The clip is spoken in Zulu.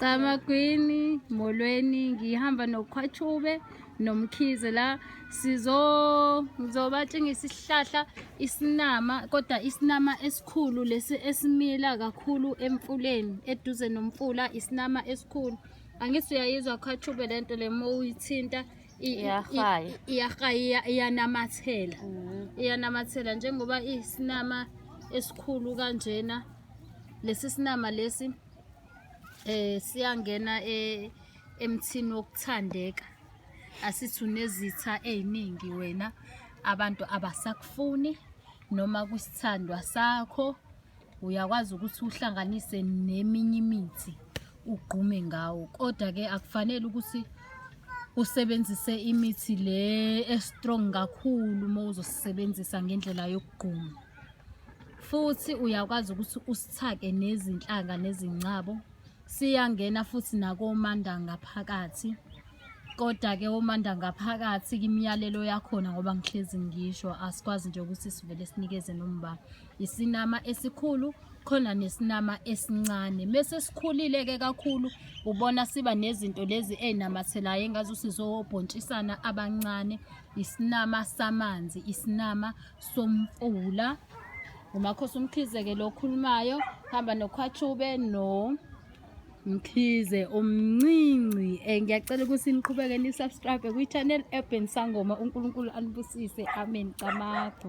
Camagwini molweni ngihamba nokhwachube nomkhize la sizo ngizobatshengisa isihlahla isinama kodwa isinama esikhulu lesi esimila kakhulu emfuleni eduze nomfula isinama esikhulu angithi uyayizwa khwachube lento le mowuyithinta iyahaya iyanamathela mm. iyanamathela njengoba isinama esikhulu kanjena lesi sinama lesi eh siyangena e- emthini wokuthandeka asithi unezitha eziningi wena abantu abasakufuni noma kwisithandwa sakho uyakwazi ukuthi uhlanganise neminye imithi ugqume ngawo kodwa ke akufanele ukuthi usebenzise imithi le estrong kakhulu uma uzosebenzisa ngendlela yokugquma futhi uyakwazi ukuthi usithake nezinhlanga nezingcabo siyangena futhi nakomanda ngaphakathi kodwa-ke omanda ngaphakathi kimiyalelo yakhona ngoba ngihlezi ngisho asikwazi nje ukuthi sivele sinikeze nomba isinama esikhulu khona nesinama esincane mese sikhulile-ke kakhulu ubona siba nezinto lezi ey'namathelayo engazuthi zobhontshisana abancane isinama samanzi isinama somfula ngumakhosi umkhize-ke lo okhulumayo hamba nokhwachube no mkhize umncinci um eh, ngiyacela ukuthi niqhubeke nisubscribe kwi-channel urban sangoma unkulunkulu anibusise amen camacho